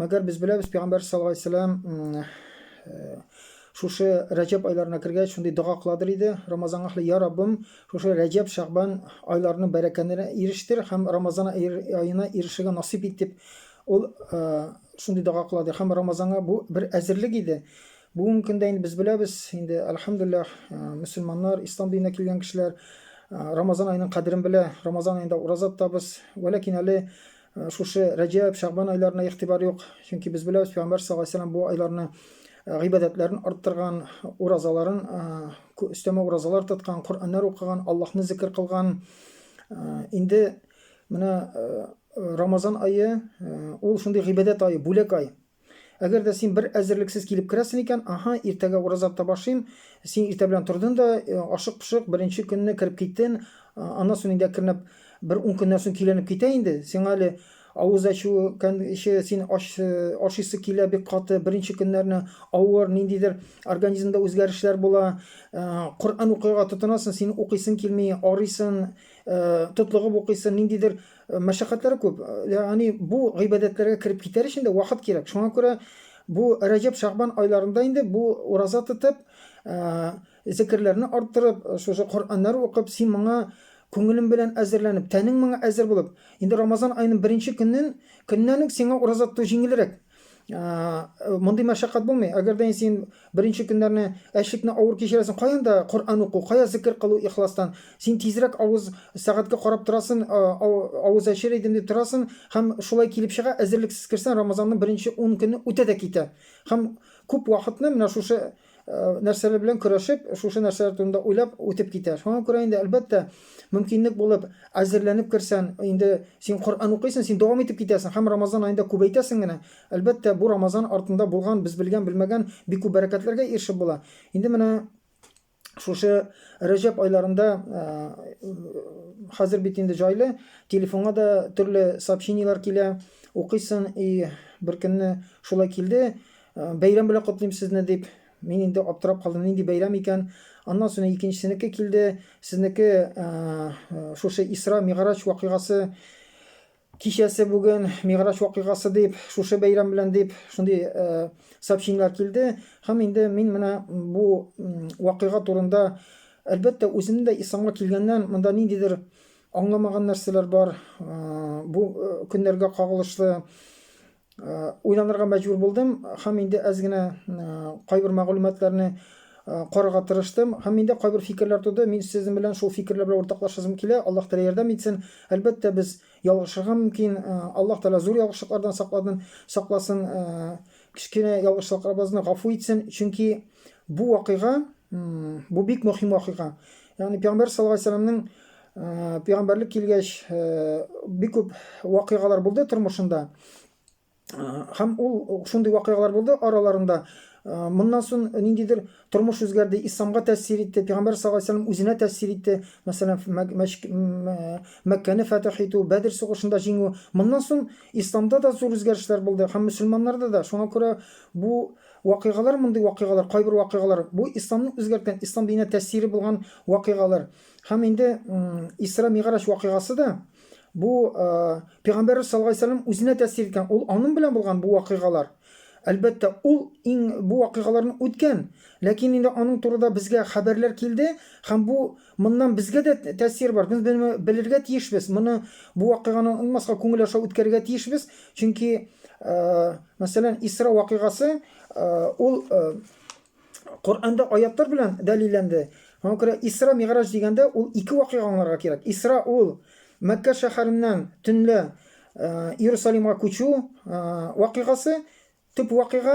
Мәгәр без беләбез, пәйгамбәр саллаллаһу алейһи вәсәлләм шушы Рәҗәб айларына кергәч, шундый дога кыладыр иде. Рамазан ахлы, я Раббым, шушы Рәҗәб, Шәгъбан айларының бәрәкәтенә ирештер һәм Рамазан аена ирешергә насыйп ит дип ул шундый дога кыладыр. Һәм Рамазанга бу бер әзерлек иде. Бүгенге көндә инде без беләбез, инде альхамдулиллах, мөселманнар, ислам диненә килгән кешеләр Рамазан аеның кадерен белә. Рамазан аенда ураза тотабыз. Вәләкин әле Э, шушы рәҗәб шәгъбан айларына игътибар юк чөнки без беләбез пәйгамбәр саллаллаху алейһи вәсәләм бу айларны э, гыйбадәтләрен арттырган уразаларын э, өстәмә уразалар тоткан коръәннәр укыган аллаһны зикер кылган инде менә рамазан айы ул шундый гыйбадәт айы бүләк ай Әгәр дә син бер әзерлексез килеп керәсен икән, аһа, иртәгә ураза тота башлыйм, син иртә белән тордын да, э, ашык-пошык беренче көнне кереп киттен, аннан соң инде кернәп бер ун көннән соң киленеп китә инде, сиңа әле авыз ачу кәнше син ач, э, ашыйсы килә бик каты, беренче көннәрне авыр, ниндидер организмда үзгәрешләр була, э, Коръән укырга тотынасың, син укыйсың килми, арыйсың, э, тотлыгып укыйсың, ниндидер Э, мәшәкатьләре күп. Э, ягъни бу гыйбадәтләргә кереп китәр өчен дә вакыт кирәк. Шуңа күрә бу Рәҗәб, Шәгъбан айларында инде бу ураза тотып, э, зикерләрне арттырып, шушы Коръәннәр укып, син моңа күңелең белән әзерләнеп, тәнең моңа әзер булып, инде Рамазан аеның беренче көннән көннән үк сиңа ураза тоту җиңелрәк. мондый мәшәкать булмый әгәр дә син беренче көннәрне әчлекне авыр кичерәсең каян да коръән уку кая зикер кылу ихластан син тизрәк авыз сәгатькә карап торасың авыз әчер идем дип торасың һәм шулай килеп чыга әзерлексез керсәң рамазанның беренче ун көне үтә дә китә һәм күп вакытны менә шушы нәрсәләр белән көрәшеп, шушы нәрсәләр турында уйлап үтеп китә. Шуңа күрә инде әлбәттә, мөмкинлек булып, әзерләнеп керсән, инде син Коръән укыйсың, син дәвам итеп китәсең һәм Рамазан аенда күбәйтәсең генә. Әлбәттә, бу Рамазан артында булган, без белгән, белмәгән бик күп бәрәкәтләргә ирешеп була. Инде менә шушы Рәҗәб айларында хәзер бит инде җайлы, телефонга да төрле сообщениеләр килә, укыйсың, и беркөнне шулай килде, Бәйрәм белән котлыйм сезне, дип, мин инде аптырап калдым, нинди бәйрәм икән. Аннан соң икенчесенеке килде, сезнеке шушы Исра Мигъраҗ вакыйгасы кичәсе бүген, Мигъраҗ вакыйгасы дип, шушы бәйрәм белән дип, шундый сообщениеләр килде. Һәм инде мин менә бу вакыйга турында, әлбәттә, үзем дә исламга килгәннән монда ниндидер аңламаган нәрсәләр бар, бу көннәргә кагылышлы. уйланырга мәҗбүр булдым һәм инде әз генә кайбер мәгълүматларны карарга тырыштым һәм миндә кайбер фикерләр туды мин сезнең белән шул фикерләр белән уртаклашасым килә аллаһ тәала ярдәм итсен әлбәттә без ялгышырга мөмкин аллаһ тәала зур ялгышлыклардан сакладын сакласын кечкенә ялгышлыкларыбызны гафу итсен чөнки бу вакыйга бу бик мөһим вакыйга ягъни пәйгамбәр саллаллаху алейһи вәсәләмнең Э, пигамбәрлек килгәч э, бик күп вакыйгалар булды тормышында һәм э, ул шундый вакыйгалар булды араларында моннан соң ниндидер тормыш үзгәрде исламга тәэсир итте пигамбәр саллаллаху алейһи вәсәләм үзенә тәэсир итте мәсәлән мәккәне фәтәх итү бәдер сугышында җиңү моннан соң исламда да зур үзгәрешләр булды һәм мөселманнарда да шуңа күрә бу вакыйгалар мондый вакыйгалар кайбер вакыйгалар бу исламны үзгәрткән ислам диненә тәэсире булган вакыйгалар Һәм инде Исра Миграҗ вакыйгасы да бу пәйгамбәр саллаллаһу алейһи вәсәлләм үзенә тәэсир иткән. Ул аның белән булган бу вакыйгалар. Әлбәттә, ул иң бу вакыйгаларны үткән, ләкин инде аның турында безгә хәбәрләр килде һәм бу моннан безгә дә тәэсир бар. Без белергә тиешбез. Моны бу вакыйганы онмаска күңел аша үткәрергә тиешбез. Чөнки, мәсәлән, Исра вакыйгасы ул Коръәндә аятлар белән дәлилләнде. Аңа күрә Исра Мигъраҗ дигәндә ул ике вакыйга аңларга кирәк. Исра ул Мәккә шәһәреннән төнлә Иерусалимга күчү вакыйгасы, төп вакыйга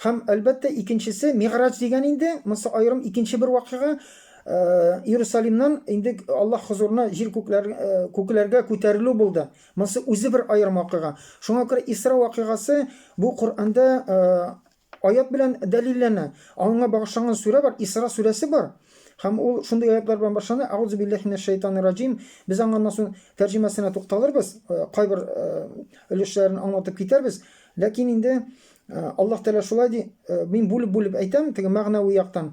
һәм әлбәттә икенчесе Мигъраҗ дигән инде, монсы аерым икенче бер вакыйга. Иерусалимнан инде Аллаһ хозурына җир күкләр күкләргә күтәрелү булды. Монсы үзе бер аерым вакыйга. Шуңа күрә Исра вакыйгасы бу Коръәндә Аять белән дәлилләнә. Аңа багышланган сүрә бар, Исра сүрәсе бар. Һәм ул шундый аятьләр белән башлана, Әгъузу билләһи минәш шәйтанир раҗим. Без аңа аннан соң тәрҗемәсенә тукталырбыз, э, кайбер э, өлешләрен аңлатып китәрбез. Ләкин инде э, Аллаһ Тәгалә шулай ди, мин бүлеп-бүлеп әйтәм, теге мәгънәви яктан.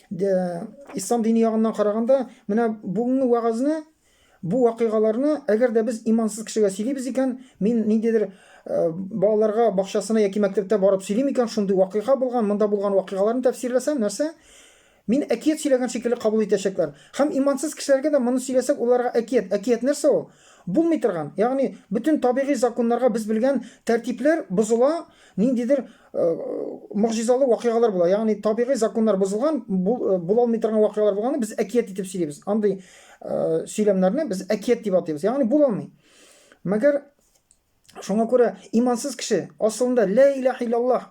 ислам дине ягыннан караганда менә бүгенге вәгазьне бу вакыйгаларны әгәр дә без имансыз кешегә сөйлибез икән мин ниндидер э, балаларга бакчасына яки мәктәптә барып сөйлим икән шундый вакыйга булган монда булган вакыйгаларны тәфсирләсәм нәрсә мин әкият сөйләгән шикелле кабул итәчәкләр һәм имансыз кешеләргә дә моны сөйләсәк уларга әкият әкият нәрсә ул булмый торган ягъни бөтен табигый законнарга без белгән тәртипләр бозыла ниндидер Э, могҗизалы вакыйгалар була. Ягъни табигый законнар бозылган, э, була алмый торган вакыйгалар булганда без әкият итеп сөйлибез. Андый э, сөйләмнәрне без әкият дип атыйбыз. Ягъни була алмый. Мәгәр шуңа күрә имансыз кеше асылында ла илаһ иллаллаһ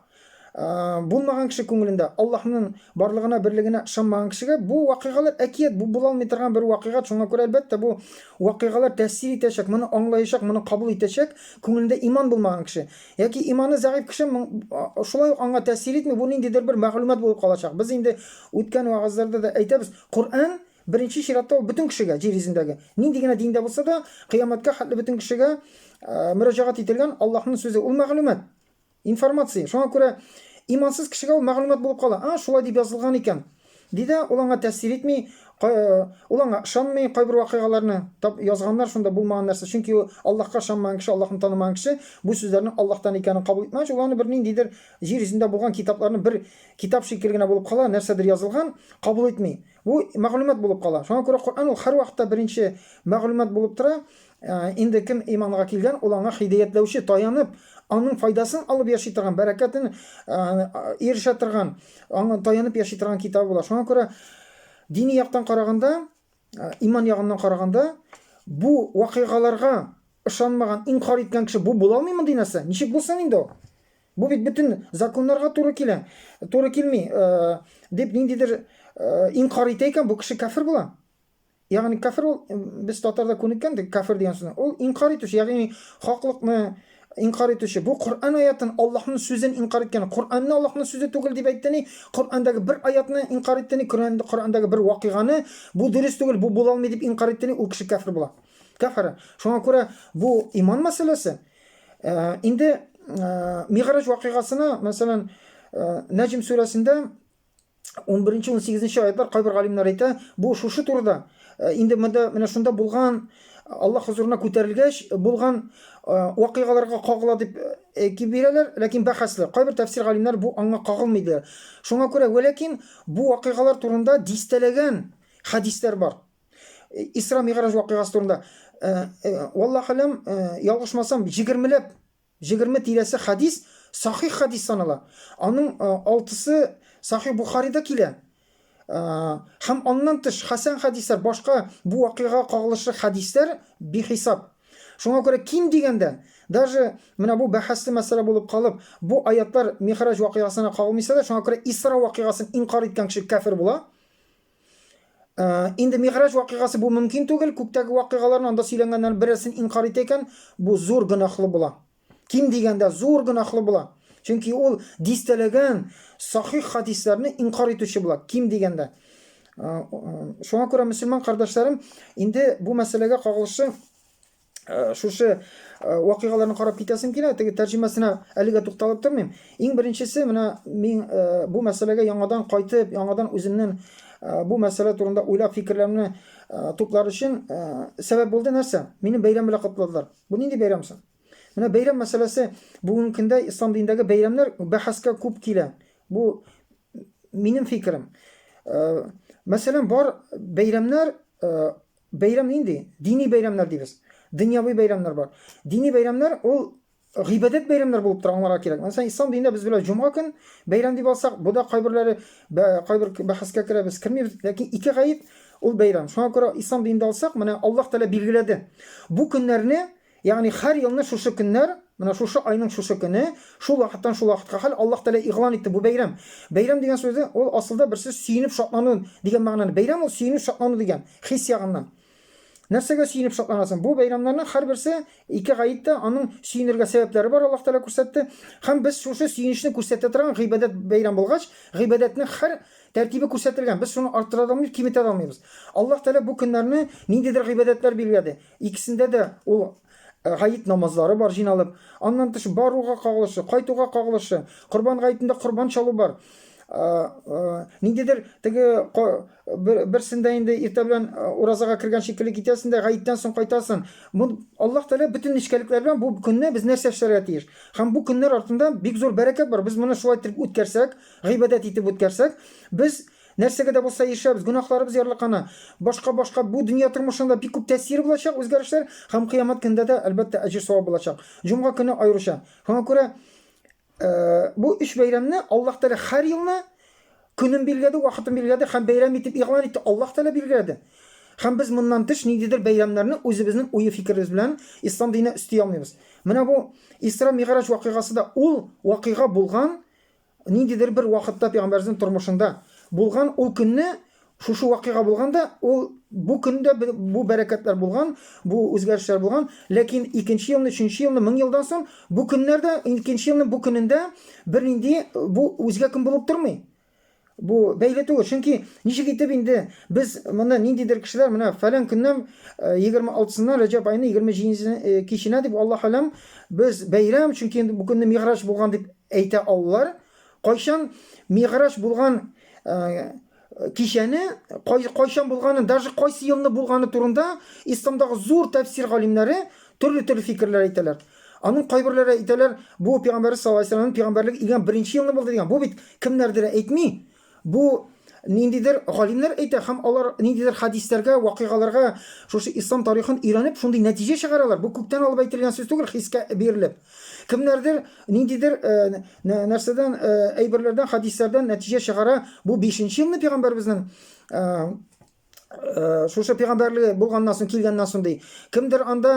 булмаган кеше күңелендә Аллаһның барлыгына, берлегенә ышанмаган кешегә бу вакыйгалар әкият, бу була алмый торган бер вакыйга. Шуңа күрә әлбәттә бу вакыйгалар тәэсир итәчәк, моны аңлаячак, моны кабул итәчәк күңелендә иман булмаган кеше. Яки иманы зәгыйфь кеше шулай ук аңа тәэсир итми, бу ниндидер бер мәгълүмат булып калачак. Без инде үткән вагызларда да әйтәбез, Коръән беренче чиратта ул бөтен кешегә, җир йөзендәге, нинди генә диндә булса да, кыямәткә хәтле бөтен кешегә мөрәҗәгать ителгән Аллаһның сүзе, ул мәгълүмат, информация. Шуңа күрә имансыз кешегә ул мәгълүмат булып кала. А, шулай дип язылган икән. Ди дә, ул аңа тәэсир итми, кай, ул аңа ышанмый, кайбер вакыйгаларны таб, язганнар шунда булмаган нәрсә, чөнки ул Аллаһка ышанмаган кеше, Аллаһны танымаган кеше бу сүзләрнең Аллаһтан икәнен кабул итмәгәч, ул аны бер ниндидер җир йөзендә булган китапларны бер китап шикелле генә булып кала, нәрсәдер язылган, кабул итми. Бу мәгълүмат булып кала. Шуңа күрә Коръән ул һәрвакытта беренче мәгълүмат булып тора, Инде кем иманга килгән, ул аңа хидәятләүче, таянып, аның файдасын алып яши торган, бәрәкәтен ирешә торган, аңа таянып яши торган китабы була. Шуңа күрә дини яктан караганда, иман ягыннан караганда, бу вакыйгаларга ышанмаган, инкар иткән кеше бу була алмыймы динәсе? Ничек булсын инде ул? Бу бит бөтен законнарга туры килә. Туры килми, дип ниндидер инкар итә икән, бу кеше кафир була. Ягъни кафир ул без татарда күнеккәндек, кафир дигән сүзне. Ул инкар итүче, ягъни хаклыкны инкар итүче. Бу Коръән аятын, Аллаһның сүзен инкар иткән. Коръәнне Аллаһның сүзе түгел дип әйтте ни, Коръәндәге бер аятны инкар итте ни, Коръәндәге бер вакыйганы бу дөрес түгел, бу була алмый дип инкар итте ни, ул кеше кафир була. Кафир. Шуңа күрә бу иман мәсьәләсе. Инде Мигъраҗ вакыйгасына, мәсәлән, Нәҗм сүрәсендә 11 18 аятлар кайбер галимнәр әйтә, бу шушы турыда. Э, инде монда менә шунда булган Аллаһ хозурына күтәрелгәч булган э, вакыйгаларга кагыла дип э, әйтеп бирәләр, ләкин бәхәсле. Кайбер тәфсир галимнәр бу аңа кагылмый диләр. Шуңа күрә вәләкин бу вакыйгалар турында дистәләгән хәдисләр бар. Исра Мигъраҗ вакыйгасы турында. Валлаһ алам, ялгышмасам, 20 ләп Җегерме тирәсе хәдис сахих хәдис санала. Аның алтысы Сахих Бухарида килә. Һәм аннан тыш хәсән хәдисләр, башка бу вакыйгага кагылышлы хәдисләр бихисап. Шуңа күрә ким дигәндә, даже менә бу бәхәсле мәсьәлә булып калып, бу аятлар Мигъраҗ вакыйгасына кагылмыйса да, шуңа күрә Исра вакыйгасын инкарь иткән кеше кяфер була. Инде Мигъраҗ вакыйгасы бу мөмкин түгел, күктәге вакыйгаларны анда сөйләнгәннәр берәрсен инкар итә икән, бу зур гөнаһлы була. Ким дигәндә зур гөнаһлы була. Чөнки ул дистәләгән сахих хадисләрне инкар итүче була, ким дигәндә. Шуңа күрә мөселман кардәшләрем, инде бу мәсьәләгә кагылышы Э, шушы э, вакыйгаларны карап китәсем килә теге тәрҗемәсенә әлегә тукталып тормыйм иң беренчесе менә мин э, бу мәсьәләгә яңадан кайтып яңадан үземнең бу мәсьәлә турында уйлап фикерләремне туплар өчен сәбәп булды нәрсә мине бәйрәм белән котладылар бу нинди бәйрәм соң менә бәйрәм мәсьәләсе бүгенге көндә ислам динендәге бәйрәмнәр бәхәскә күп килә бу минем фикерем мәсәлән бар бәйрәмнәр Бәйрәм нинди? Дини бәйрәмнәр дибез. Дөньяви бәйрәмнәр бар. Дини бәйрәмнәр ул гыйбадәт бәйрәмнәр булып тора, аңларга кирәк. Мәсәлән, ислам динендә без беләбез, җомга көн бәйрәм дип алсак, бу да кайберләре кайбер бәхәскә керә, без кермибез, ләкин ике гаеп ул бәйрәм. Шуңа күрә ислам динендә алсак, менә Аллаһ Тәгалә билгеләде. Бу көннәрне Ягъни һәр елны шушы көннәр, менә шушы айның шушы көне, шул вакыттан шул вакытка хәл Аллаһ Тәгалә игълан итте бу бәйрәм. Бәйрәм дигән сүзе, ул асылда бер сүз сөенеп шатлану дигән мәгънәне. Бәйрәм ул сөенү, шатлану дигән, хис ягыннан. Нәрсәгә сөенеп шатланасың? Бу бәйрәмнәрнең һәрберсе, ике гает тә, аның сөенергә сәбәпләре бар, Аллаһ Тәгалә күрсәтте. Һәм без шушы сөенечне күрсәтә торган гыйбадәт бәйрәм булгач, гыйбадәтнең һәр тәртибе күрсәтелгән, без шуны арттыра да алмыйбыз, киметә дә алмыйбыз. Аллаһ Тәгалә бу көннәрне ниндидер гыйбадәтләр билгеләде. Икесендә дә ул гает намазлары бар җыйналып, аннан тыш баруга кагылышы, кайтуга кагылышы, Корбан гаетендә корбан чалу бар. Ниндидер теге берсендә инде иртә белән уразага кергән шикелле китәсен дә, гаеттән соң кайтасын. Бу Аллаһ Тәгалә бөтен нечкәлекләр белән бу көнне без нәрсә эшләргә тиеш? Һәм бу көннәр артында бик зур бәрәкәт бар. Без моны шулай итеп үткәрсәк, гыйбадәт итеп үткәрсәк, без Нәрсәгә дә булса ирешәбез, гөнаһларыбыз ярлыкана. Башка-башка бу дөнья тормышында бик күп тәэсире булачак үзгәрешләр һәм Кыямәт көндә дә, әлбәттә, әҗер-савап булачак. Җомга көне аеруча. Шуңа күрә бу өч бәйрәмне Аллаһ Тәгалә һәр елны көнен билгеләде, вакытын билгеләде һәм бәйрәм итеп игълан итте. Аллаһ Тәгалә билгеләде. Һәм без моннан тыш ниндидер бәйрәмнәрне үзебезнең уе-фикеребез белән ислам диненә өсти алмыйбыз. Менә бу Исра-Мигъраҗ вакыйгасы да ул вакыйга булган Ниндидер бер вакытта пәйгамбәребезнең тормышында булган ул көнне шушы вакыйга булган да, ул бу көндә бу бәрәкәтләр булган, бу үзгәрешләр булган, ләкин икенче елны, өченче елны, мең елдан соң бу көннәрдә, икенче елның бу көнендә бернинди бу үзгә көн булып тормый. Бу бәйле түгел, чөнки ничек итеп инде без моны ниндидер кешеләр менә фәлән көннән 26-сыннан э, Рәҗәб айының 27 э, киченә дип Аллаһ алам без бәйрәм, чөнки бу көнне Мигъраҗ булган дип Әйтә алулар, кайчан Мигъраҗ булган кичәне, кайчан булганын, даже кайсы елны булганы турында Исламдагы зур тәфсир галимнәре төрле-төрле фикерләр әйтәләр. Аның кайберләре әйтәләр, бу Пәйгамбәрбез саллаллаһу алейһи ва сәлләмнең пәйгамбәрлек илгән беренче елны булды дигән. Бу бит кемнәрдер әйтми, Бу ниндидер галимнәр әйтә һәм алар ниндидер хәдисләргә, вакыйгаларга, шушы ислам тарихын өйрәнеп, шундый нәтиҗә чыгаралар. Бу күктән алып әйтелгән сүз түгел, хискә бирелеп. Кемнәрдер ниндидер нәрсәдән, әйберләрдән, хәдисләрдән нәтиҗә чыгара, бу бишенче елны пәйгамбәребезнең Э, шушы пигамбәрлеге булганнан соң килгәннән соң ди кемдер анда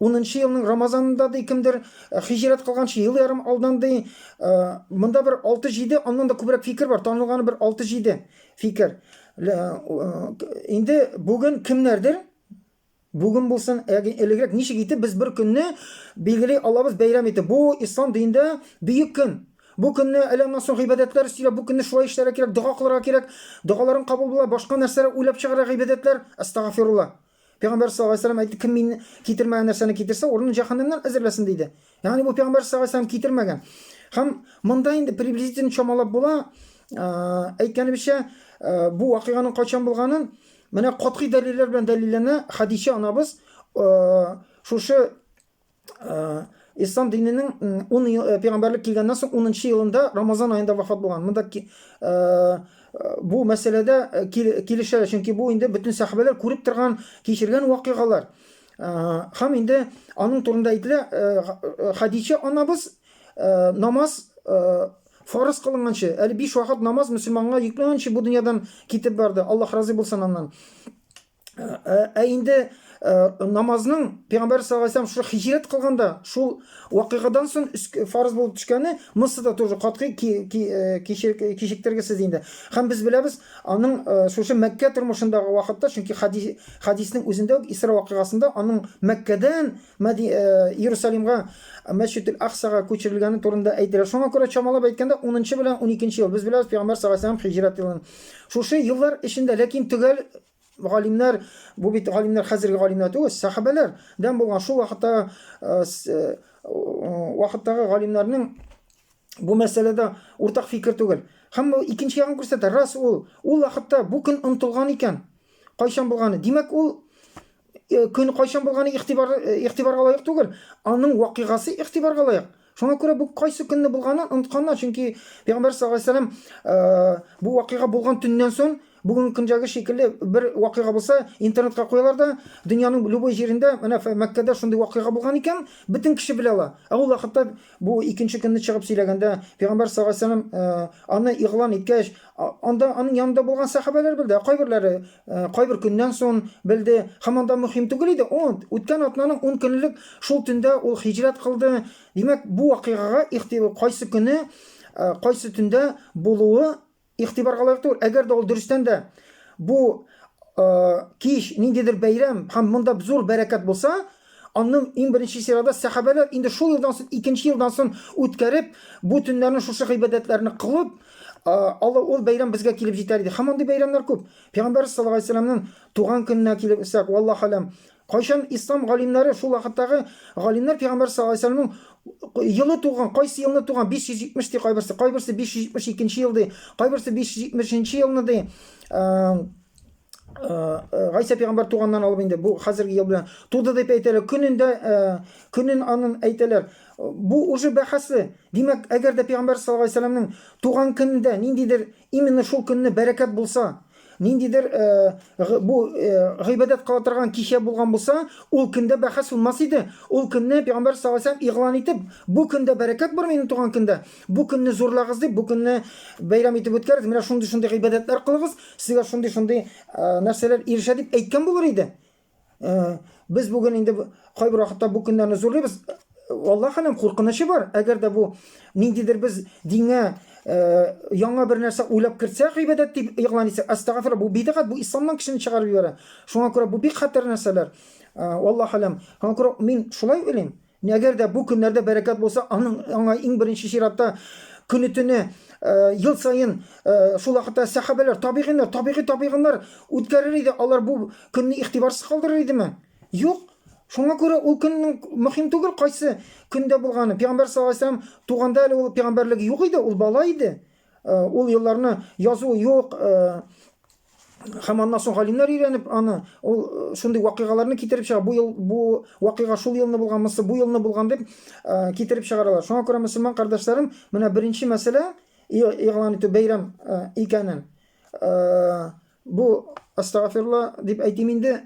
унынчы елның рамазанында ди кемдер э, хиҗрәт кылганчы ел ярым алдан ди э, монда бер алты җиде аннан да күбрәк фикер бар танылганы бер алты җиде фикер инде бүген кемнәрдер Бүген булсын, ягъни элегрәк ничек итеп без бер көнне билгели алабыз бәйрәм итеп? Бу ислам динендә бөек көн. Бу көнне әле аннан соң гыйбадәтләр өстиләр, бу көнне шулай эшләргә кирәк, дога кылырга кирәк, догаларың кабул була, башка нәрсәләр уйлап чыгарга гыйбадәтләр, әстәгафирулла. Пәйгамбәрбез саллаллаһу галәйһи ва сәлләм әйтте, кем мин китермәгән нәрсәне китерсә, урынын җәһәннәмнән әзерләсен, диде. Ягъни бу пәйгамбәр саллаллаһу алейһи китермәгән. Һәм монда инде приблизительно чамалап була. Әйткәнебезчә, бу вакыйганың кайчан булганын менә катгый дәлилләр белән дәлилләнә. Хадичә анабыз шушы ислам диненең 10 ел пәйгамбәрлек килгәннән соң 10 елында Рамазан аенда вафат булган. Монда бу мәсьәләдә килешәләр, чөнки бу инде бөтен сәхабәләр күреп торган, кичергән вакыйгалар. Хам инде аның турында әйтелә, Хадича анабыз намаз фарыз кылынганчы, әле биш вакыт намаз мөселманга йөкләнгәнче бу дөньядан китеп барды. Аллаһ разый булсын аннан. Ә инде намазның Пәйгамбәр саллаллаху алейһи шул хиҗрәт кылганда, шул вакыйгадан соң фарыз булып төшкәне Мысырда тоже катгый кичектергесез инде. Һәм без беләбез, аның шушы Мәккә тормышындагы вакытта, чөнки хадис Хәдиснең үзендә үк Исра вакыйгасында аның Мәккәдән Мәди Иерусалимга, Мәсҗид-эль-Аксага күчерелгәне турында әйтелә. Шуңа күрә чамалап әйткәндә, унынчы белән уникенче ел. Без беләбез, пәйгамбәр саллаллаһу галәйһи ва сәлләм һиҗрәт елын шушы еллар эчендә, ләкин төгәл галимнәр, бу бит галимнәр хәзерге галимнәр түгел, сәхабәләр дән булган шул вакыттагы вакыттагы галимнәрнең Бу мәсьәләдә уртак фикер түгел. Һәм ул икенче ягын күрсәтә. Раз ул, ул вакытта бу көн онтылган икән. Кайчан булганы. Димәк, ул э, көн кайчан булганы игътибар э, игътибарга лаек түгел. Аның вакыйгасы игътибарга лаек. Шуңа күрә бу кайсы көнне булганын онытканнар, чөнки Пәйгамбәр саллаллаһу алейһи вәсәлләм э, бу вакыйга булган төннән соң бүгенге көндәге шикелле бер вакыйга булса, интернетка куялар да, дөньяның любой җирендә, менә Мәккәдә шундый вакыйга булган икән, бөтен кеше белә ала. Ә ул вакытта Бу икенче көнне чыгып сөйләгәндә, пәйгамбәр саллаллаһу алейһи вәсәлләм э, аны игълан иткәч, а- анда аның янында булган сәхабәләр белде, ә кайберләре э, кайбер көннән соң белде. Һәм анда мөһим түгел иде, ул үткән атнаның 10 көнлек шул төндә ул хиҗрәт кылды. Димәк, бу вакыйгага ихтилаф кайсы көне, э, кайсы төндә булуы Игътибарга лаек түгел, әгәр дә ул дөрестән дә бу кич ниндидер бәйрәм һәм монда зур бәрәкәт булса, аның иң беренче чирада сәхабәләр инде шул елдан соң, икенче елдан соң үткәреп, бу төннәрне шушы гыйбадәтләрне кылып, Алла ул бәйрәм безгә килеп җитәр иде. Һәм андый бәйрәмнәр күп. Пәйгамбәрбез саллаллаһу алейһи вәсәлләмнең туган көненә килеп үсәк, валлаһу алям, Кайчан ислам галимнәре, шул вакыттагы галимнәр пәйгамбәр саллаллаһу алейһи вә сәлләмнең елы туган, кайсы елны туган, 570 ди кайберсе, кайберсе 572 нче ел ди, кайберсе 570 нче елны ди, Гайсә пәйгамбәр туганнан алып инде бу хәзерге ел белән туды дип әйтәләр. Көнендә көнен анын әйтәләр. Бу уже бәхәсле. Димәк, әгәр дә пәйгамбәр саллаллаһу алейһи вә сәлләмнең туган көнендә ниндидер именно шул көнне бәрәкәт булса, Ниндидер э, бу э, гыйбадәт кыла торган кичә булган булса, ул көндә бәхәс булмас иде. Ул көнне пәйгамбәр саллаллаху алейһи игълан итеп, бу көндә бәрәкәт бар минем туган көндә. Бу көнне зурлагыз дип, бу көнне бәйрәм итеп үткәрегез. Менә шундый шундый гыйбадәтләр кылыгыз, сезгә шундый шундый э, нәрсәләр ирешә дип әйткән булыр иде. Э, без бүген инде кайбер вакытта бу көннәрне зурлыйбыз алла хәлем куркынычы бар әгәр дә бу ниндидер без дингә э, яңа бер нәрсә уйлап кертсәк гыйбадәт дип игълан итсәк астагфирла бу бидгать бу исламнан кешене чыгарып җибәрә шуңа күрә бу бик хәтәр нәрсәләр э, алла хәлем шуңа күрә мин шулай уйлыйм Нәгәр дә бу көннәрдә бәрәкәт булса, аның аңа иң беренче чиратта көне-төне э, ел саен э, шул вакытта сәхабәләр, табигыйннар, табигый табигыннар үткәрер иде. Алар бу көнне игътибарсыз калдырыр идеме? Юк. Шуңа күрә ул көннең мөһим түгел кайсы көндә булганы. Пәйгамбәр саллаллаху алейһи вәсәләм туганда әле ул пәйгамбәрлеге юк иде, ул бала иде. Э, ул елларны язу юк, э, һәм аннан соң галимнәр өйрәнеп аны ул э, шундый вакыйгаларны китереп чыга бу ел бу вакыйга шул елны булган мысы бу елны булган дип э, китереп чыгаралар шуңа күрә мөселман кардәшләрем менә беренче мәсьәлә игълан итү бәйрәм э, икәнен бу астагафирла дип әйтим инде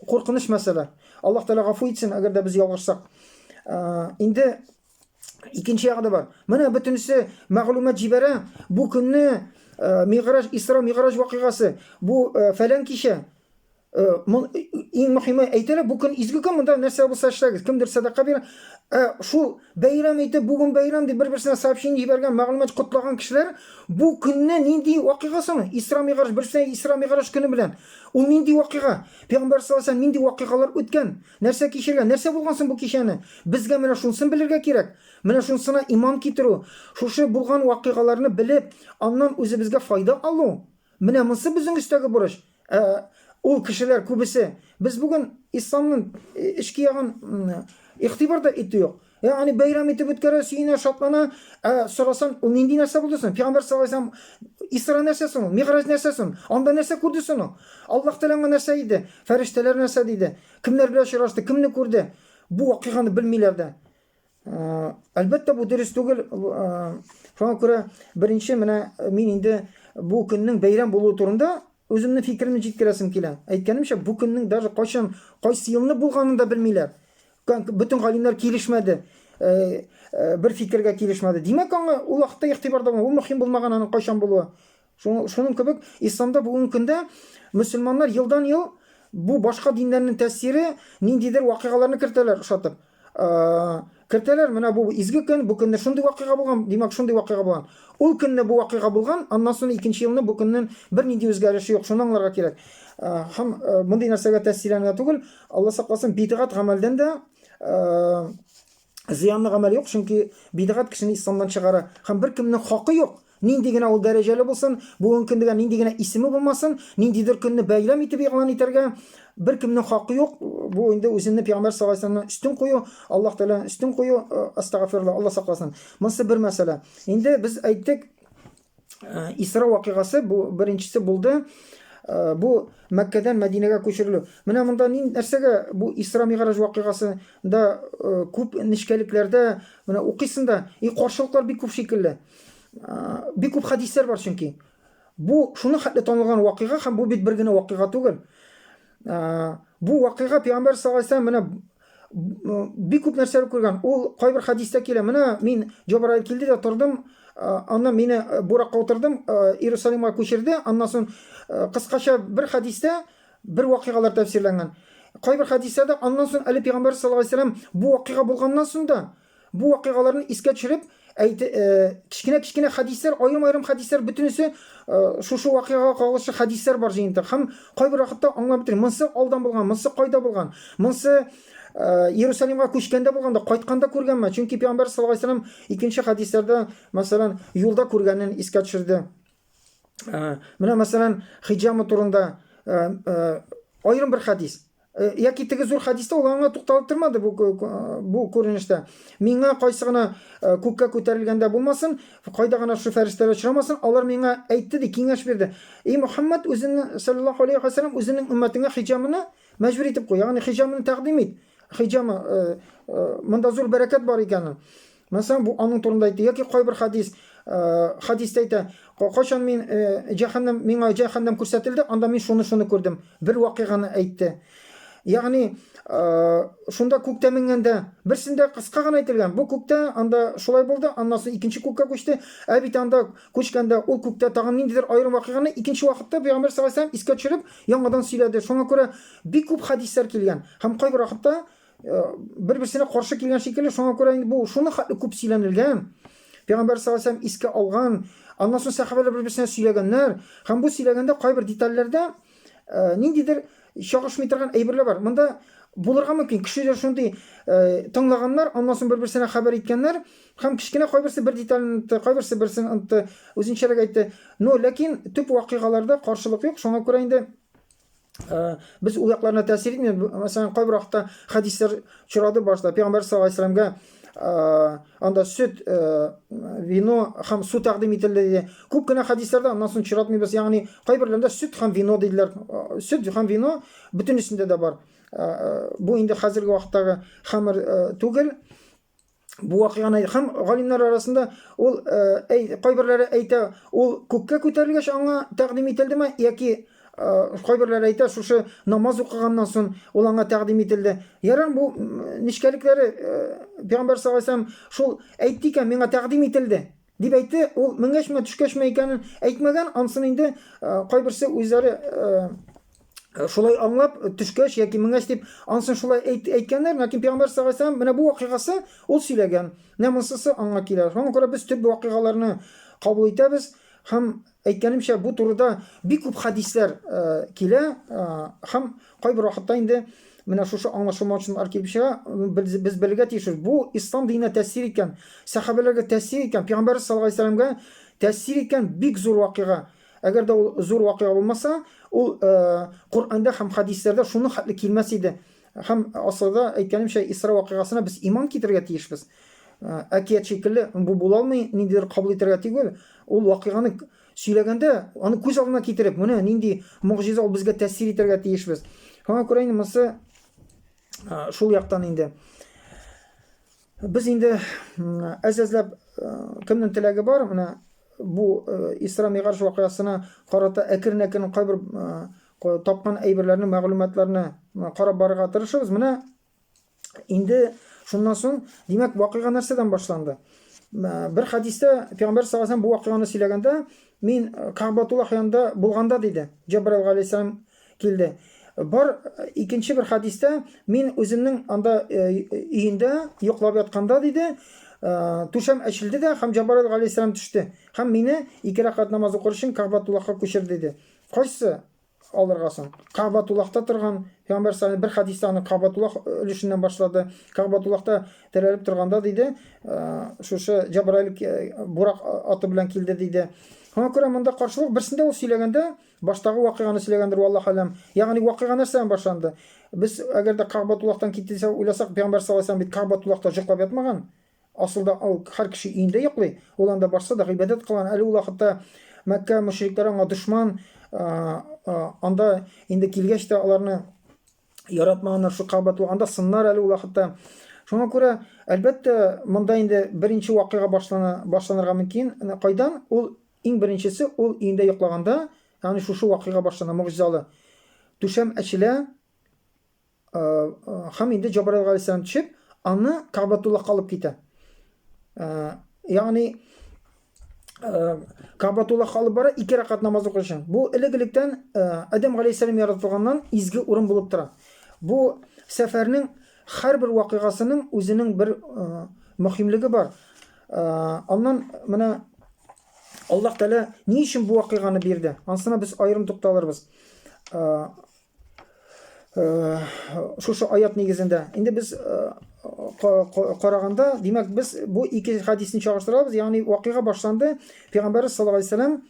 куркыныч мәсьәлә аллаһ тәала гафу итсен әгәр дә без ялгышсак инде Икенче ягы да бар. Менә бөтенесе мәгълүмат җибәрә. Бу көнне э, Мигъраж, Исра Мигъраж вакыйгасы. Бу э, фәлән кичә. Э, иң мөһиме әйтелә, бу көн изге көн, монда нәрсә булса эшләгез. Кемдер садака бирә. Ә шул бәйрәм итеп, бүген бәйрәм дип бер-берсенә сообщение җибәргән, мәгълүмат котлаган кешеләр бу көнне нинди вакыйга соңы? Исра Мигъраж, берсенә Исра Мигъраж көне белән. Ул нинди вакыйга? Пәйгамбәр саллаллаху алейһи нинди вакыйгалар үткән? Нәрсә кичергән? Нәрсә булган соң бу кичәне? Безгә менә шунсын белергә кирәк. Менә шунсына иман китерү, шушы булган вакыйгаларны белеп, аннан үзебезгә файда алу. Менә монсы безнең өстәге бурыч. Ә ул кешеләр күбесе, без бүген исламның эчке ягын игътибар да итү юк. Ягъни бәйрәм итеп үткәрә, сөенә, шатлана. Ә сорасаң, ул нинди нәрсә булды соң? Пәйгамбәр саллаллаһу алейһи вәсәлләм Исра нәрсә соң ул? Мигъраҗ нәрсә соң? Анда нәрсә күрде соң ул? Аллаһ Тәгалә аңа нәрсә диде? Фәрештәләр нәрсә диде? Кемнәр белән очрашты? Кемне күрде? Бу вакыйганы белмиләр дә. Әлбәттә, бу дөрес түгел. Шуңа күрә беренче менә мин инде бу көннең бәйрәм булуы турында үземнең фикеремне җиткерәсем килә. Әйткәнемчә, бу көннең даже кайчан, кайсы елны булганын да белмиләр. Бөтен галимнәр килешмәде. Э, э, бер фикергә килешмәде. Димәк, аңа ул вакытта игътибарда булмаган, ул мөһим булмаган аның кайчан булуы. Шуның кебек исламда бүгенге көндә мөселманнар елдан-ел бу башка диннәрнең тәэсире ниндидер вакыйгаларны кертәләр ошатып. Э, кертәләр, менә бу изге көн, бу көнне шундый вакыйга булган, димәк, шундый вакыйга булган. Ул көнне бу вакыйга булган, аннан соң икенче елны бу көннең бернинди үзгәреше юк, шуны аңларга кирәк. Һәм мондый нәрсәгә тәэсирләнергә түгел, Алла сакласын, бидгат гамәлдән дә зыянлы гамәл юк, чөнки бидгат кешене исламнан чыгара. Һәм бер кемнең хакы юк, нинди генә ул дәрәҗәле булсын, бүгенге көндә нинди генә исеме булмасын, ниндидер көнне бәйләм итеп игълан итәргә бер кемнең хакы юк. Бу инде үземне пәйгамбәр саллаллаһу алейһи вәсәлламнан үстен кую, Аллаһ Тәгаләне үстен кую, э, астагфирулла, Алла сакласын. Монысы бер мәсьәлә. Инде без әйттек, Э, Исра вакыйгасы бу беренчесе булды. Э, бу Мәккәдән Мәдинәгә күчерелү. Менә монда нин нәрсәгә бу Исра Мигъраҗ вакыйгасында э, күп нечкәлекләрдә менә укыйсың да, и каршылыклар бик күп шикелле. Бик күп хәдисләр бар чөнки. Бу шуны хәтле танылган вакыйга һәм бу бит бер генә вакыйга түгел. Бу вакыйга Пәйгамбәр саллаллаһу алейһи ва сәлләм менә бик күп нәрсәләр күргән. Ул кайбер хәдистә килә. Менә мин Җабраил килде дә тордым, аннан мине буракка утырдым, Иерусалимга күчерде. Аннан соң кыскача бер хәдистә бер вакыйгалар тәфсирләнгән. Кайбер хәдистә дә аннан соң әле пәйгамбәр саллаллаһу алейһи вәсәлләм бу вакыйга булганнан соң да Бу вакыйгаларны искә төшереп, әйт, кечкенә-кечкенә хәдисләр, аерым-аерым хәдисләр, бөтенесе шушы вакыйгага кагылышлы хәдисләр бар җыентык. Һәм кайбер вакытта аңлап бетермим. Монсы алдан булган, монсы кайда булган, монсы Иерусалимга күчкәндә булганда, кайтканда күргәнме? Чөнки пәйгамбәр саллаллаһу алейһи вәсәлләм икенче хәдисләрдә, мәсәлән, юлда күргәнен искә төшерде. Менә, мәсәлән, хиҗама турында аерым бер хәдис. Э, яки теге зур хәдистә ул аңа тукталып тормады бу бу күренештә миңа кайсы гына э, күккә күтәрелгәндә булмасын кайда гына шул фәрештәләр очрамасын алар миңа әйтте ди киңәш бирде и мөхәммәд үзенең саллаллаху алейхи вассалам үзенең өммәтеңә хиҗамыны мәҗбүр итеп куй ягъни хиҗамыны тәкъдим ит хиҗамы э, монда зур бәрәкәт бар икәнен Мәсәлән, бу аның турында әйтте. Яки кайбер хадис, э, хадис әйтә, кайчан мин э, җәһәннәм, миңа җәһәннәм күрсәтелде, анда мин шуны-шуны күрдем. Бер вакыйганы әйтте. Ягъни, э, шунда күктә менгәндә, берсендә кыска гына әйтелгән. Бу күктә анда шулай булды, аннан соң икенче күккә күчте. Ә бит анда күчкәндә ул күктә тагын ниндидер аерым вакыйганы икенче вакытта Пәйгамбер саллаллаһу алейһи искә төшереп, яңадан сөйләде. Шуңа күрә бик күп хадислар килгән. Һәм кайбер вакытта Э, бер-берсенә каршы килгән шикелле, шуңа күрә инде бу шуны хәтле күп сөйләнелгән. Пәйгамбәр саллаллаху алейһи искә алган, аннан соң сәхабәләр бер-берсенә сөйләгәннәр. Һәм бу сөйләгәндә кайбер детальләрдә э, ниндидер чагышмый торган әйберләр бар. Монда булырга мөмкин. Кешеләр шундый э, тыңлаганнар, аннан соң бер-берсенә хәбәр иткәннәр һәм кечкенә кайберсе бер детальне онытты, кайберсе берсен онытты, үзенчәрәк әйтте. Но ләкин төп вакыйгаларда каршылык юк, шуңа күрә инде Э, без ул якларына тәэсир итми мәсәлән кайбер вакытта хәдисләр очрады башта пәйгамбәр саллаллаху алейһи вәсәләмгә э, анда сөт э, вино һәм су тәкъдим ителде диде күп кенә хәдисләрдә аннан соң очратмыйбыз ягъни кайберләрендә сөт һәм вино диделәр сөт һәм вино бөтенесендә дә бар бу инде хәзерге вакыттагы хәмер түгел бу вакыйганы һәм галимнәр арасында ул әй, кайберләре әйтә ул күккә күтәрелгәч аңа тәкъдим ителдеме яки кайберләре әйтә шушы намаз укыганнан соң ул аңа тәкъдим ителде ярар бу нечкәлекләре пәйгамбәр саллаллаху алейһи шул әйтте икән миңа тәкъдим ителде Дип әйтте, ул менгәчме, төшкәчме икәнен әйтмәгән, ансын инде кайберсе үзләре шулай аңлап, төшкәч яки менгәч дип, ансын шулай әйт, әйткәннәр, ләкин Пәйгамбәр саллаллаху алейһи ва менә бу вакыйгасы ул сөйләгән, менә монсысы аңа килә. Шуңа күрә без төп вакыйгаларны кабул итәбез һәм Әйткәнемчә, бу турыда бик күп хәдисләр килә һәм кайбер вакытта инде менә шушы аңлашылмаучанлар килеп чыга. Без, без белергә тиешбез, бу ислам диненә тәэсир иткән, сәхабәләргә тәэсир иткән, пәйгамбәрбез саллаллаһу алейһи вәсәләмгә тәэсир иткән бик зур вакыйга. Әгәр дә ул зур вакыйга булмаса, ул Коръәндә һәм хәдисләрдә шуның хәтле килмәс иде. Һәм асылда, әйткәнемчә, Исра вакыйгасына без иман китерергә тиешбез. Ә, Әкият шикелле бу була алмый, ниндидер кабул итәргә түгел. Ул вакыйганы к- сөйләгәндә, аны күз алдына китереп, менә нинди могҗиза ул безгә тәэсир итәргә тиешбез. Шуңа күрә инде монысы а, шул яктан инде. Без инде әз-әзләп кемнең теләге бар, менә бу Исра Мигарш вакыйгасына карата әкрен-әкрен кайбер тапкан әйберләрне, мәгълүматларны карап барырга тырышабыз. Менә инде шуннан соң, димәк, вакыйга нәрсәдән башланды? Бер хәдистә Пәйгамбәр саллаллаху алейһи бу вакыйганы сөйләгәндә, мин Кагъбатуллах янында булганда диде. Җабраил галәйһиссәлам килде. Бар икенче бер хәдистә мин үземнең анда өендә йоклап ятканда диде, түшәм әчелде дә һәм Җабраил галәйһиссәлам төште һәм мине ике рәкәт намаз укыр өчен Кәгъбатуллахка күчер диде. Кайсы алырга соң? Кәгъбатуллахта торган Пәйгамбәр саллаллаху бер хәдистә аны Кәгъбатуллах өлешеннән башлады. Кәгъбатуллахта терәлеп торганда диде, шушы Җабраил бурак аты белән килде диде. Шуңа күрә монда каршылык берсендә ул сөйләгәндә Баштагы вакыйганы сөйләгәндер, валлаһ аләм. Ягъни вакыйга нәрсәдән башланды? Без әгәр дә Кагъбатуллахтан китте дисәк, уйласак, пәйгамбәр саллаллаһу алейһи ва сәлләм бит Кагъбатуллахта җоклап ятмаган. Асылда ул һәр кеше өендә йоклый. Ул анда барса да гыйбадәт кылган. Әле ул вакытта Мәккә мөшрикләре аңа дошман. Анда инде килгәч тә аларны яратмаганнар шул Кагъбатуллах. Анда сыннар әле ул вакытта. Шуңа күрә, әлбәттә, монда инде беренче вакыйга башлана башланырга мөмкин. Кайдан? Ул Иң беренчесе, ул өендә йоклаганда, ягъни шушы вакыйга башлана, могҗизалы. Түшәм ачыла, һәм инде Җабраил галәйһиссәлам төшеп, аны Кабатуллахка алып китә. Ягъни Кабатулла халып бара, ике рәкат намаз укыр өчен. Бу элек-электән Адәм галәйһиссәлам яратылганнан изге урын булып тора. Бу сәфәрнең һәрбер вакыйгасының үзенең бер мөһимлеге бар. Аннан менә Аллаһ Тәгалә ни өчен бу вакыйганы бирде? Ансына без аерым тукталырбыз. Шушы аят нигезендә. Инде без караганда, димәк, без бу ике хадисне чагыштырабыз. Ягъни вакыйга башланды. Пәйгамбәрбез саллаллаһу алейһи ва сәлләм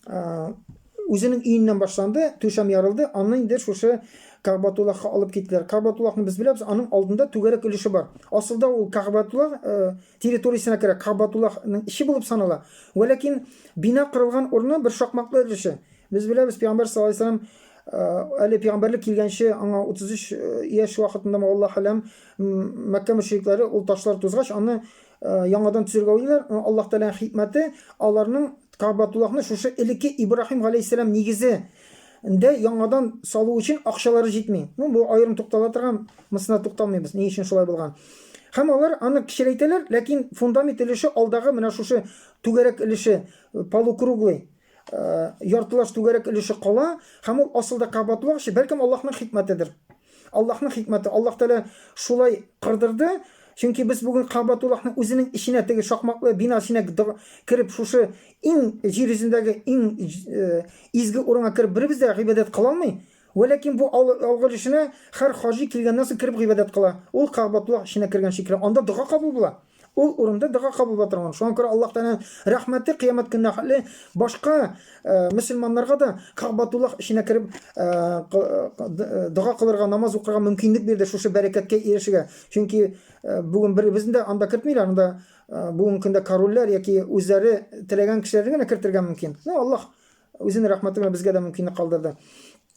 үзенең өеннән башланды, түшәм ярылды, аны инде шушы Кагбатуллахка алып киттеләр. Кагбатуллахны без беләбез, аның алдында түгәрәк өлеше бар. Асылда ул Кагбатуллах э, территориясенә керә, Кагбатуллахның иши булып санала. Вә ләкин бина кырылган урыны бер шакмаклы өлеше. Без беләбез, пәйгамбәр саллаллаһу алейһи вәсәлләм э, әле пәйгамбәрлек килгәнче аңа 33 э, яшь вакытында Аллаһ әләм Мәккә мөшрикләре ул ташлар тузгач, аны яңадан төзергә уйлыйлар. Аллаһ Тәгаләнең хикмәте, аларның Кабатуллахны шушы элекке Ибраһим галәйһиссәлам нигезе дә яңадан салу өчен акчалары җитми. Ну, бу аерым туктала торган, мысына тукталмыйбыз, ни өчен шулай булган. Һәм алар аны кечерәйтәләр, ләкин фундамент өлеше алдагы менә шушы түгәрәк өлеше полукруглый. яртылаш түгәрәк өлеше кала һәм ул асылда кабатлык чи бәлкем Аллаһның хикмәтедер. Аллаһның хикмәте. Аллаһ Тәгалә шулай кырдырды, чөнки без бүген Кабатуллаһның үзенең иченә теге шакмаклы бина иченә кереп шушы иң җир йөзендәге иң э, изге урынга кереп беребез дә гыйбадәт кыла алмый. Вәләкин бу алгы өлешенә һәр хаҗи килгәннән соң кереп гыйбадәт кыла. Ул Кабатуллаһ иченә кергән шикелле. Анда дога кабул була. Ул урында дога кабул була торган. Шуңа күрә Аллаһ Тәгаләнең рәхмәте кыямәт көненә хәтле башка мөселманнарга да Кагъбатуллах эченә кереп дога кылырга, намаз укырга мөмкинлек бирде шушы бәрәкәткә ирешергә. Чөнки бүген беребезне дә анда кертмиләр, анда бүгенге көндә корольләр яки үзләре теләгән кешеләрне генә кертергә мөмкин. Ну, Аллаһ үзенең рәхмәте белән безгә дә мөмкинлек калдырды.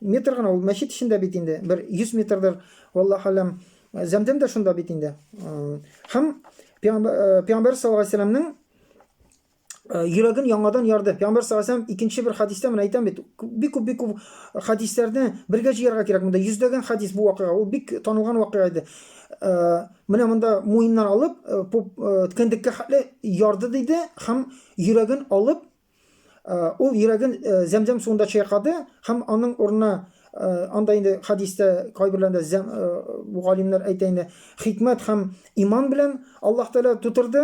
Метр гына ул мәчет эчендә бит инде, бер 100 метрдер, валлаһ алям, зәмдәм дә шунда бит инде. Һәм пәйгамбәр саллаллаһу алейһи вәсәлләмнең йөрәген яңадан ярды. Пәйгамбәр саллаллаһу алейһи вәсәлләм икенче бер хадистә мен әйтәм бит, бик күп бик күп хадисләрне бергә җыярга кирәк. Монда йөздәгән хадис бу вакыйга, ул бик танылган вакыйга иде. Менә монда муеннан алып, ткәндеккә хәтле ярды диде һәм йөрәген алып Ул йөрәген Зәмзәм суында чайкады һәм аның урынына анда инде хәдистә кайберләрендә зәм бу галимнәр әйтә инде хикмәт һәм иман белән Аллаһ Тәгалә тутырды.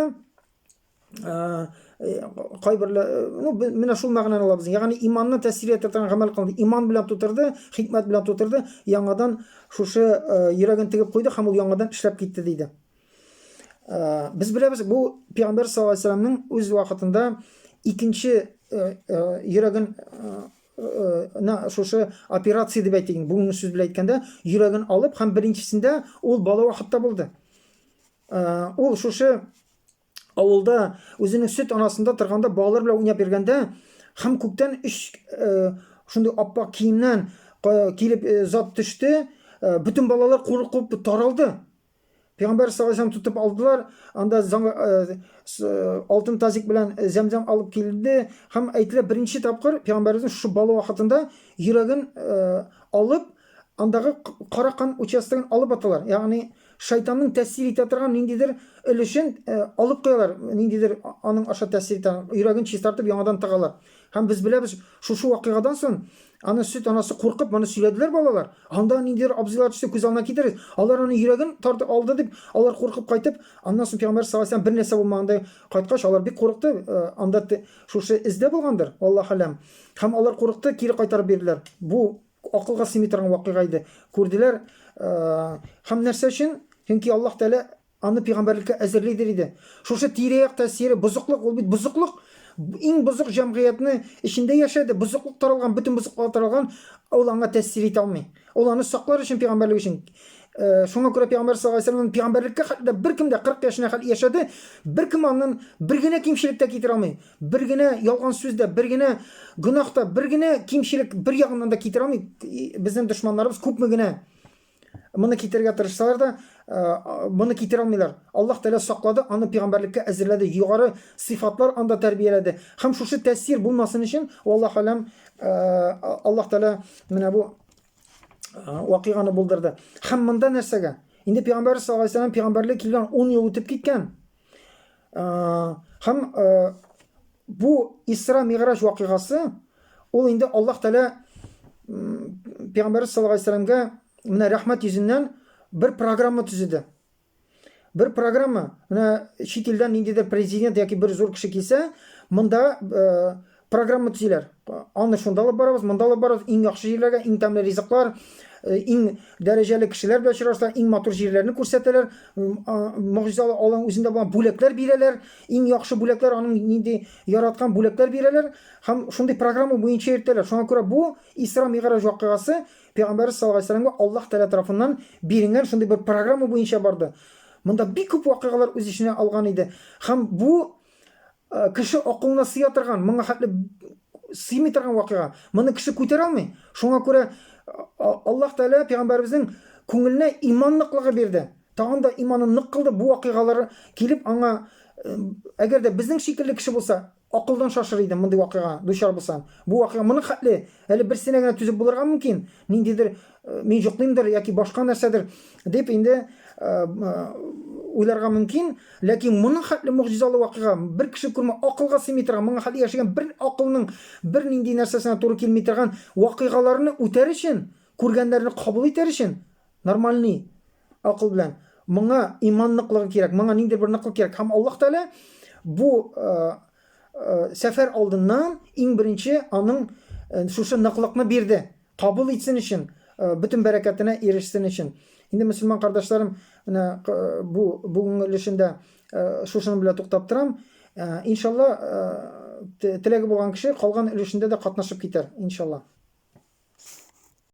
Кайберләр ну менә шул мәгънәне алабыз. Ягъни иманны тәсвир итә торган гамәл кылды. Иман белән тутырды, хикмәт белән тутырды, яңадан шушы йөрәген тегеп куйды һәм ул яңадан эшләп китте диде. Э, без беләбез бу пигамбәр саллаллаху алейһи вәсәләмнең үз вакытында икенче э, э, йөрәген шушы операция дип әйтик бүгенге сүз белән әйткәндә йөрәген алып һәм беренчесендә ул бала вакытта булды ул шушы авылда үзенең сөт анасында торганда балалар белән уйнап йөргәндә һәм күктән өч шундый аппак киемнән килеп зат төште бөтен балалар куркып таралды Пәйгамбәр саллаллаху тотып алдылар, анда э, э, алтын тазик белән э, зәмзәм алып килде һәм әйтелә беренче тапкыр пәйгамбәребезнең шушы бала вакытында йөрәген алып, андагы кара кан участогын алып аталар. Ягъни шайтанның тәэсир итә торган ниндидер өлешен алып куялар, ниндидер аның аша тәэсир итә, йөрәген чистартып яңадан тыгалар. Һәм без беләбез, шушы вакыйгадан соң аны сөт анасы куркып, моны сөйләделәр балалар. Анда ниндидер абзыйлар төсе күз алдына китерегез. Алар аны йөрәген тартып алды дип, алар куркып кайтып, аннан соң пәйгамбәр саллаллаһу алейһи бер нәрсә булмагандай кайткач, алар бик курыкты. Э, анда шушы эздә булгандыр, Аллаһ аләм. Һәм алар курыкты, кире кайтарып бирделәр. Бу акылга сыймый торган вакыйга иде. Күрделәр, э, һәм нәрсә өчен? Чөнки Аллаһ Тәгалә Аны пигамбәрлеккә әзерлидер иде. Шушы тирә-як тәэсире, бозыклык, ул бит бозыклык. Иң бозык җәмгыятьне эчендә яшәде, бозыклык таралган, бөтен бозыклыклар таралган, ул аңа тәэсир итә алмый. Ул аны саклар өчен пигамбәрлек өчен. Шуңа күрә пигамбәр саллаллаһу алейһи ва сәлләмнән пигамбәрлеккә хәтле дә беркем дә 40 яшенә хәтле яшәде, беркем аннан бер генә кимчелек тә китерә алмый. Бер генә ялган сүз дә, бер генә гөнаһ та, бер генә кимчелек бер ягыннан да китерә алмый. Безнең дошманнарыбыз күпме генә Моны китерергә тырышсалар да, моны китерә алмыйлар. Аллаһ Тәгалә саклады, аны пигамбәрлеккә әзерләде, югары сыйфатлар анда тәрбияләде. Һәм шушы тәэсир булмасын өчен, валлаһ алям, Аллаһ Тәгалә менә бу вакыйганы булдырды. Һәм монда нәрсәгә? Инде пигамбәр саллаллаһу алейһи ва саллям пигамбәрлек килгән 10 ел үтеп киткән. Һәм бу Исра Миграҗ вакыйгасы ул инде Аллаһ Тәгалә Пәйгамбәрбез саллаллаһу алейһи вәсәлләмгә менә рәхмәт йөзеннән бер программа төзеде. Бер программа, менә чит илдән ниндидер президент яки бер зур кеше килсә, монда Программа төзиләр. Аны шунда алып барабыз, монда алып барабыз, иң яхшы җирләргә, иң тәмле ризыклар, э, иң дәрәҗәле кешеләр белән очрашалар, иң матур җирләрне күрсәтәләр, могҗизалы алың үзендә булган бүләкләр бирәләр, иң яхшы бүләкләр, аның нинди яраткан бүләкләр бирәләр һәм шундый программа буенча йөртәләр. Шуңа күрә бу Исра Мигъраҗ вакыйгасы Пәйгамбәрбез саллаллаһу алейһи вәсәлләмгә Аллаһ Тәгалә тарафыннан бирелгән шундый бер программа буенча барды. Монда бик күп вакыйгалар үз эченә алган иде. Һәм бу Э, кеше акылына сыя торган, моңа хәтле сыймый торган вакыйга. Моны кеше күтәрә алмый. Шуңа күрә Аллаһ Тәгалә пәйгамбәребезнең күңеленә иман ныклыгы бирде. Тагын да иманын нык кылды бу вакыйгалар килеп аңа э, әгәр дә безнең шикелле кеше булса, акылдан шашыр иде мондый вакыйга дучар булса. Бу вакыйга моны хәтле әле берсенә генә түзеп булырга мөмкин. Ниндидер мин җоклыймдыр яки башка нәрсәдер дип инде уйларга мөмкин ләкин моның хәтле могҗизалы вакыйга бер кеше күрмә акылга сыймый торган моңа хәтле яшәгән бер акылның бер нинди нәрсәсенә туры килми торган вакыйгаларны үтәр өчен күргәннәрне кабул итәр өчен нормальный акыл белән моңа иман ныклыгы кирәк моңа ниндидер бер ныклык кирәк һәм аллаһ тәгалә бу сәфәр алдыннан иң беренче аның шушы ныклыкны бирде Кабул итсен өчен, бөтен бәрәкәтенә ирешсен өчен. Инде мөселман кардәшләрем, менә бу бүгенге өлешендә шушының белән туктап торам. Иншалла, теләге булган кеше калган өлешендә дә катнашып китәр, иншалла.